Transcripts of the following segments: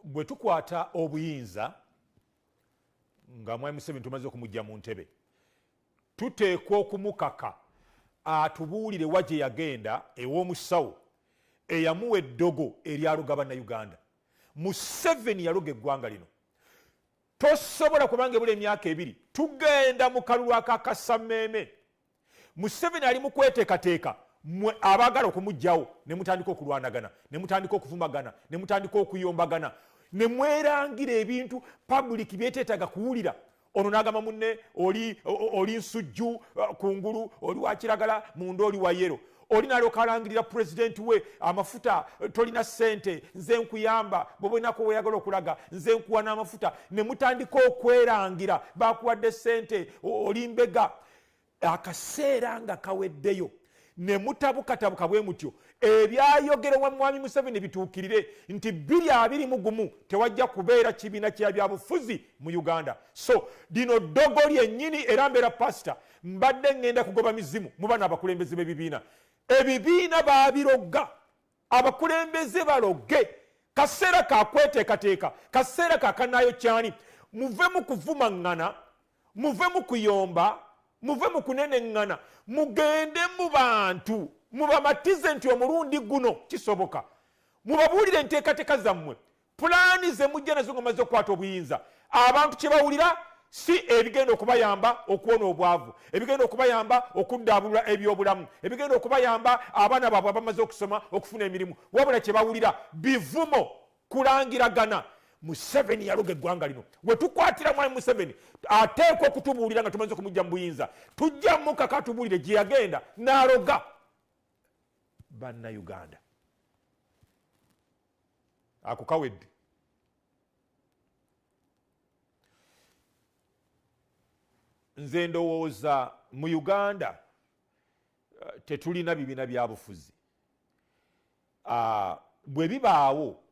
bwe tukwata obuyinza nga mwami museveni tumaze okumujja mu ntebe tuteekwa okumukaka atubuulire wa gye yagenda ew'omusawo eyamuwa eddogo eryaluga bannauganda museveni yaluga eggwanga lino tosobola kubanga ebula emyaka ebiri tugenda mu kalulu akakasameeme museveni ali mukweteekateeka mwe abaagala okumugjawo ne mutandika okulwanagana ne mutandika okuvumagana ne mutandika okuyombagana ne mwerangira ebintu public byeteetaaga kuwulira ono nagamba munne oli oli nsujju uh, kungulu oli wakiragala munda oli wayero oli nalyoka alangirira pulezidenti we amafuta uh, tolina sente nze nkuyamba bobwenako weyagala okulaga nze nkuwa n'amafuta ne mutandika okwerangira bakuwadde sente oli mbega akaseera nga kaweddeyo ne mutabukatabuka bwe mutyo ebyayogerwa mwami museveni bituukirire nti biri abiri mu gumu tewajja kubeera kibiina kya byabufuzi mu uganda so lino ddogo lyennyini era mbeera pasita mbadde ŋŋenda kugoba mizimu mu bana abakulembeze b'ebibiina ebibiina baabirogga abakulembeze baloge kaseera kakweteekateeka kaseera kakanaayo kyani muve mu kuvumaŋŋana muve mu kuyomba muve mu kuneneŋŋana mugende mu bantu mubamatize nti omulundi guno kisoboka mubabuulire enteekateeka zammwe pulaani ze mujja nazo nga mazze okukwata obuyinza abantu kye bawulira si ebigenda okubayamba okuwona obwavu ebigenda okubayamba okuddaabulula ebyobulamu ebigenda okubayamba abaana baabwe abamaze okusoma okufuna emirimu wabula kye bawulira bivumo kulangiragana museveni yaloga eggwanga lino wetukwatira mwami museveni ateekwa okutubuulira nga tumaze okumujja mu buyinza tujja mukaka atubuulire gye yagenda n'aloga bannauganda ako kawedde nze ndowooza mu uganda eh, tetulina bibiina byabufuzi ah, bwe bibaawo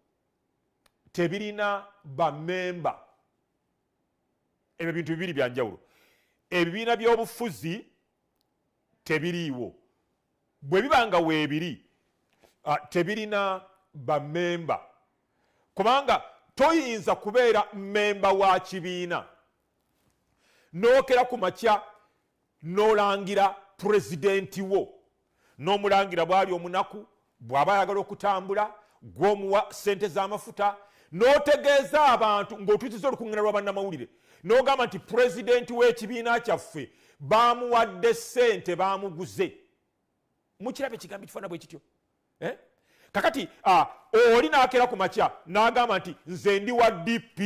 tebirina bamemba ebyo bintu bibiri byanjawulo ebibiina byobufuzi tebiriiwo bwe biba nga weebiri ah, tebirina bamemba kubanga toyinza kubeera mmemba wa kibiina nookera ku makya n'olangira pulezidenti wo n'omulangira bwali omunaku bw'aba ayagala okutambula gw'omuwa ssente z'amafuta n'otegeeza abantu ng'otuukiza olukuŋŋana lwa bannamawulire n'ogamba nti pulezidenti w'ekibiina kyaffe baamuwadde ssente baamuguze mukiraba ekigambo ekifaana bwe kityo eh? kakati oli n'akeera ku makya n'agamba nti nze ndi wa dp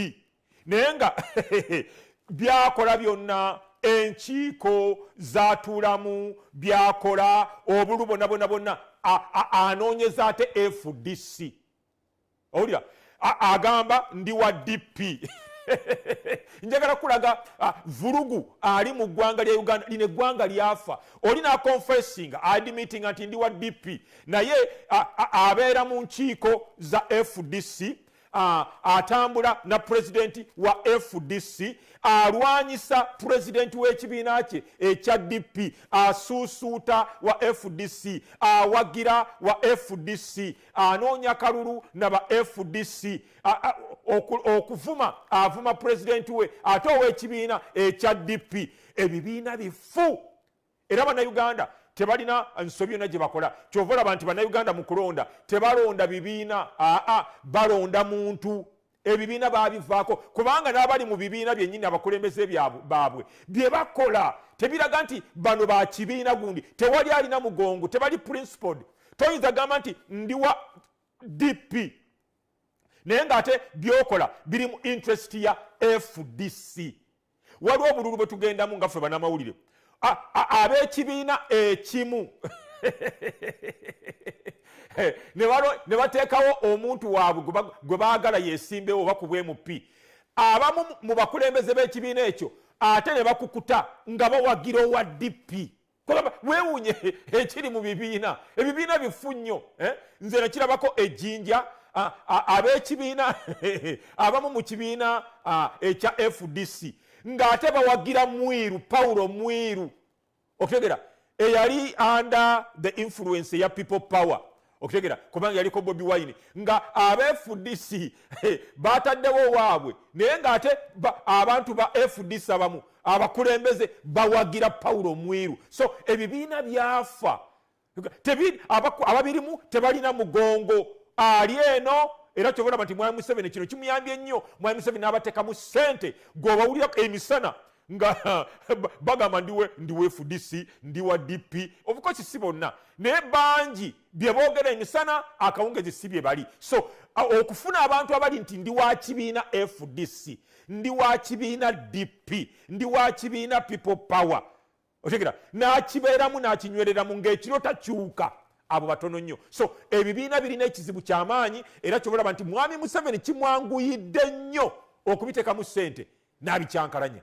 naye nga byakola byonna enkiiko zatuulamu byakola obulu bona bona bonna anoonyeza ate fdc owulira agamba ndi wa dp njagala kulaga vulugu ali mu ggwanga lya uganda lino eggwanga lyafa oli naconfessing admitting nti ndi wa dp naye abeera mu nkiiko za fdc atambula na pulezidenti wa fdc alwanyisa pulezidenti w'ekibiina kye ekya dp asuusuuta wa fdc awagira wa fdc anoonya kalulu na ba fdc okuvuma avuma pulezidenti we ate ow'ekibiina ekya dp ebibiina bifu era bannayuganda tebalina nsobi yona gyebakola kyova olaba nti bannayuganda mu kulonda tebalonda bibiina aa balonda muntu ebibiina babivaako kubanga n'abali mu bibiina byennyini abakulembeze baabwe bye bakola tebiraga nti bano ba kibiina gundi tewali alina mugongo tebali principled toyinza gamba nti ndiwa dp naye ng'ate byokola biri mu interest ya fdc waliwo obululu bwe tugendamu nga ffe banamawulire ab'ekibiina ekimu ne bateekawo omuntu waabwe gwe baagala yesimbewo oba ku bwmp abamu mu bakulembeze b'ekibiina ekyo ate ne bakukuta nga bawagira owa dp kugamba wewunye ekiri mu bibiina ebibiina bifu nnyo eh? nze nakirabako ejjinja ab'ekibiina abamu mu kibiina ekya fdc ng'ate bawagira mwiru pawulo mwiru okutegera eyali under the influence eya people power okitegera kubanga yaliko bobi wine nga abafdc bataddewo owaabwe naye nga ate abantu ba fdc abamu abakulembeze bawagira pawulo omwiru so ebibiina byafa ababirimu tebalina mugongo ali eno era kyobola nti mwami museveni kino kimuyambye ennyo mwami museveni n'abatekamu sente gwobawulira emisana nga bagamba ndiwe ndiwe fdc ndiwa dp obukosi si bonna naye bangi byebogera emisana akawungezi si bye bali so okufuna abantu abali nti ndi wa kibiina fdc ndi wa kibiina dp ndi wa kibiina people power otegera n'akibeeramu n'akinywereramu ng'ekiro takyuka abo batono nnyo so ebibiina birina ekizibu kyamaanyi era kyobalaba nti mwami museveni kimwanguyidde nnyo okubiteekamu ssente n'abikyankalanya